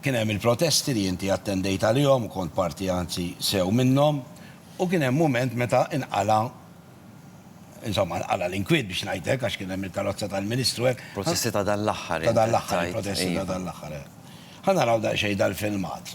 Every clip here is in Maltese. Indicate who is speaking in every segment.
Speaker 1: Kien hemm il-protesti li inti attendejt għalihom u kont parti anzi sew minnhom u kien hemm mument meta inqala' insomma nqala' l-inkwiet biex ngħid hekk għax kien hemm il-karozza tal-Ministru hekk. Protesti ta' dan l-aħħar int qed tgħid. Ta' dan l-aħħar, il-protesti ta' dan l-aħħar, eh. Ħa naraw daqsxejn dal-filmat.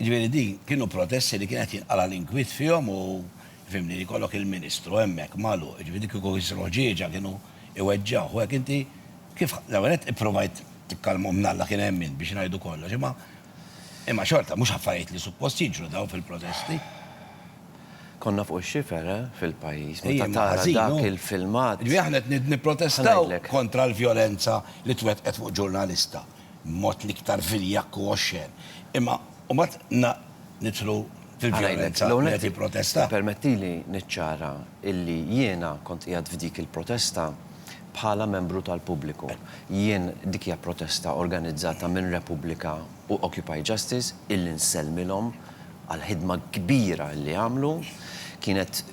Speaker 1: Ġifieri di kienu protesti li kien qed jinqala' l-inkwiet fihom u fhimni li jkollok il-Ministru hemmhekk magħluq, ġifieri dik kieku jsiru ħġieġa kienu jweġġgħuh u hekk inti kif l-ewwel nett ipprovajt tikkalmhom mnalla kien hemm min biex ngħidu kollox imma Imma xorta mhux affarijiet li suppost jiġru dawn fil-protesti. Konna fuq ix-xifer, eh, fil-pajjiż, meta Ejjem, tara ħażin, dak hu. il-filmat. Ġifieri aħna qed nid- nipprotestaw Ħanajdlek. kontra l-vjolenza li twettqet fuq ġurnalista, b'mod l-iktar viljakk u oxxen. Imma mbagħad na, nidħlu fil-vjolenza Ħanajdlek. li qed jipprotesta. Permettili niċċara illi jiena kont qiegħed f'dik il-protesta. Bħala membru tal-pubbliku, jien dik hija protesta organizzata minn Repubblika u Occupy Justice illi nsellmilhom għall-ħidma kbira illi għamlu. Kienet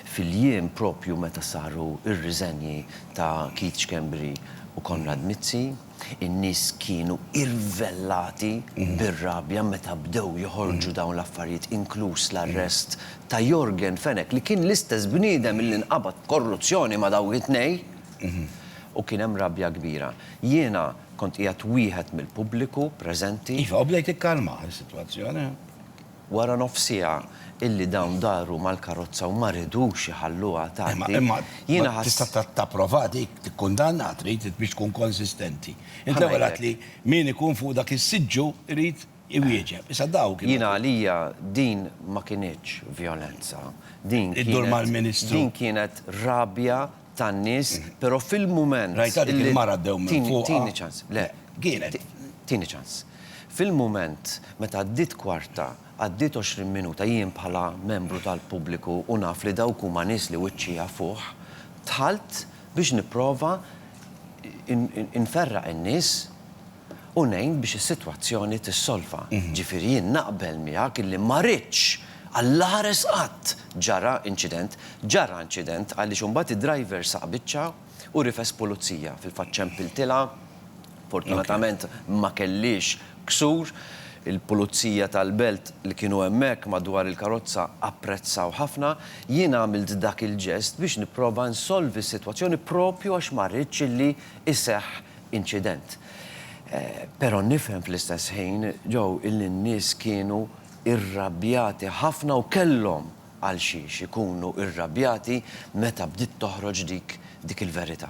Speaker 1: fil-jiem proprju meta saru r-riżenji ta' Keith Schembri u Konrad Mizzi. In-nies kienu irvellati bir-rabja meta bdew joħorġu dawn l-affarijiet, inkluż l-arrest ta' Yorgen Fenech li kien l-istess bniedem li nqabad b'korruzzjoni ma' dawk it-tnejn u kien hemm rabja kbira. Jiena kont qiegħed wieħed mill-pubbliku preżenti. Iva, u bdejt ikkalma s-sitwazzjoni. Wara nofs siegħa illi dawn daru mal-karozza u ma ridux iħalluha tgħaddi, Imma jiena ħass. tista' tapprova dik, tikkundanna, trid biex tkun konsistenti. Int l-ewwel għedt li min ikun fuq dak is-siġġu jrid iwieġeb. Issa daw kienu. Jiena għalija din ma kinitx vjolenza. Din kienet. Iddur mal-Ministru. Din kienet rabja tan-nies, però fil-mument Rajtha dik li il-mara ddew minn Tini, fuqha? tini ċans, le. Le, kienet. Ti, tini ċans. Fil-mument meta għaddiet kwarta, għaddiet għoxrin minuta, jien bħala membru tal-pubbliku u naf li dawk huma nies li wiċċija fuħ, dħalt biex nipprova in, in, inferraq in-nies u ngħin biex is-sitwazzjoni tissolva. Ġifieri jien naqbel miegħek illi ma ridx, allaħares qatt, ġara inċident. Ġara inċident għaliex imbagħad id-driver saq biċċa u rifes pulizija fil-fatt ċempiltilha, fortunatament ma kellhiex ksur. Il-pulizija tal-belt li kienu hemmhekk madwar il-karozza apprezzaw ħafna. Jien għamilt dak il-ġest biex nipprova nsolvi s-sitwazzjoni proprju għax ma ridx illi jseħħ inċident. Però nifhem fl-istess ħin, Joe, illi n-nies kienu irrabjati ħafna u kellhom għalxiex ikunu irrabjati meta bdiet toħroġ dik dik il-verità.